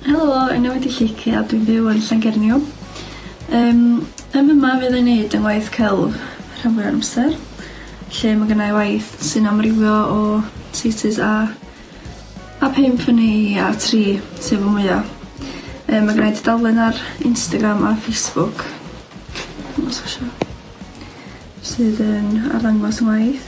Helo, enw wedi Llici a dwi'n byw yn Llangerniw. Um, ym yma fydd ei wneud yn waith celf rhan fwy o'r amser, lle mae gennau waith sy'n amrywio o thesis a A pump fyny i a tri sef y mwya. Yy ma' gennai tudalen ar Instagram a Facebook os chi isio sydd yn arddangos ngwaith.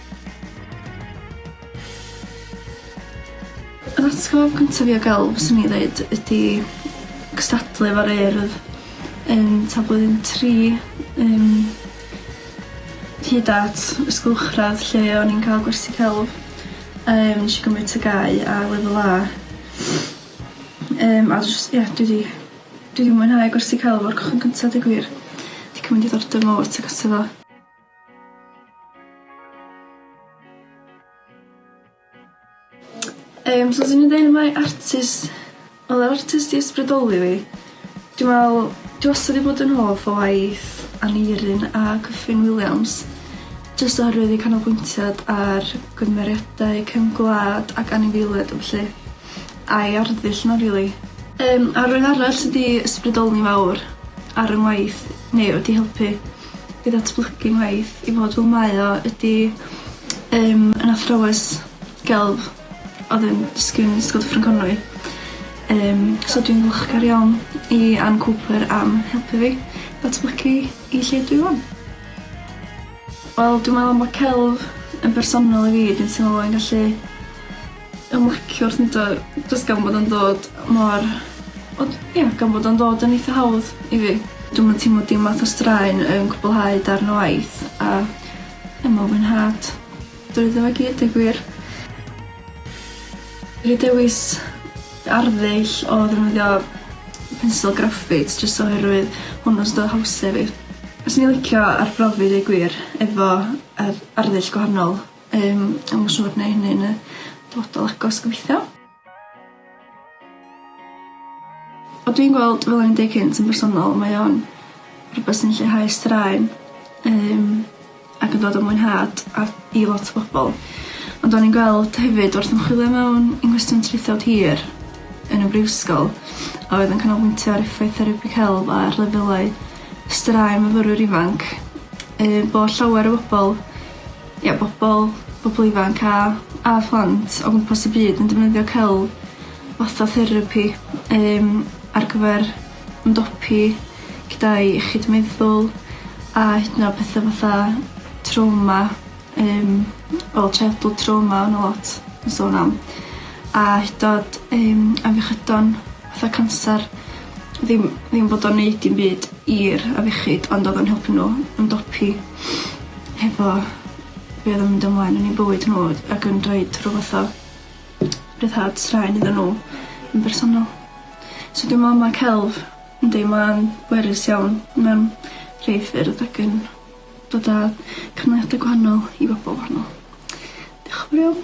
Yr atgof cynta fi o gelf fyswn i ddeud ydi cystadlu efo'r Urdd yn t'a blwyddyn tri yym hyd at ysgol uwchradd lle o'n i'n ca'l gwersi celf a yym nesh i gymryd tygau a lefel A. Yym a js ie dwi 'di dwi 'di mwynhau gwersi celf o'r cychwyn cynta deu gwir. 'Di cymyd diddordeb mowr tŷ cynta fo. Yym so swn i'n deud mai artist o'dd yr artist i ysbrydoli fi dwi me'wl dwi wastad 'di bod yn hoff o waith Aneurin a Kyffin Williams jyst oherwydd eu canolbwyntiad ar gymeriadau cefn gwlad ac anifeiliaid a ballu. A'i arddull n'w rili. Yym a rywun arall sy 'di ysbrydoli mawr ar 'yn ngwaith neu wedi helpu i ddatblygu ngwaith i fod fel mae o ydi yym yn athrawes gelf odd yn dysgu yn Ysgol Dyffryn Conwy yym so dwi'n ddiolchgar iawn i Ann Cooper am helpu fi datblygu i lle dwi ŵan. Wel dwi me'wl ma' celf yn bersonol i fi dwi'n teimlo bo' fi'n gallu ymlaciwr on'd o? Jyst gan bod o'n dod mor ond ia gan bod o'n dod yn eitha hawdd i fi. Dwi'm yn teimlo dim math o straen yn cwblhau darn o waith a ie ma' fwynhad drwyddo fo i gyd deu gwir. Fi dewis arddull o ddefnyddio pencil graffit jyst oherwydd hwnnw sy 'da hawse fi. Fyswn i licio arbrofi deu gwir efo ardd- arddull gwahanol. Yym dwi'm yn siŵr neu' hynny yn y dyfodol agos gobeithio. O dwi'n gweld fel o'n i'n deu' cynt yn bersonol mae o'n rhwbeth sy'n lleihau straen yym ac yn dod o mwynhad a i lot o bobol ond o'n i'n gweld hefyd wrth ymchwilio mewn i nghwestiwn traethawd hir yn y brifysgol a oedd yn canolbwyntio ar effaith therapy celf ar lefelau straen myfyrwyr ifanc yy bod llawer o bobol Ie bobol bobol ifanc a a phlant o gwmpas y byd yn defnyddio celf fatha therapi yym ar gyfer ymdopi gyda'u iechyd meddwl a hyd yn o'd petha fatha trawma yym fel childhood trauma ma' 'na lot yn sôn am a hyd 'n o'd yym afiechydon fatha canser ddim ddim bod o'n neud dim byd i'r afiechyd ond odd o'n helpu n'w ymdopi hefo be' odd yn mynd ymlaen yn 'u bywyd n'w ag yn rhoid rhyw fath o ryddhad straen iddyn n'w yn bersonol. So dwi me'wl ma' celf yndi ma'n bwerus iawn mewn rhei ffyrdd ac yn dod â cymlethder gwahanol i bobol wahanol. Dioch yn fowr iawn.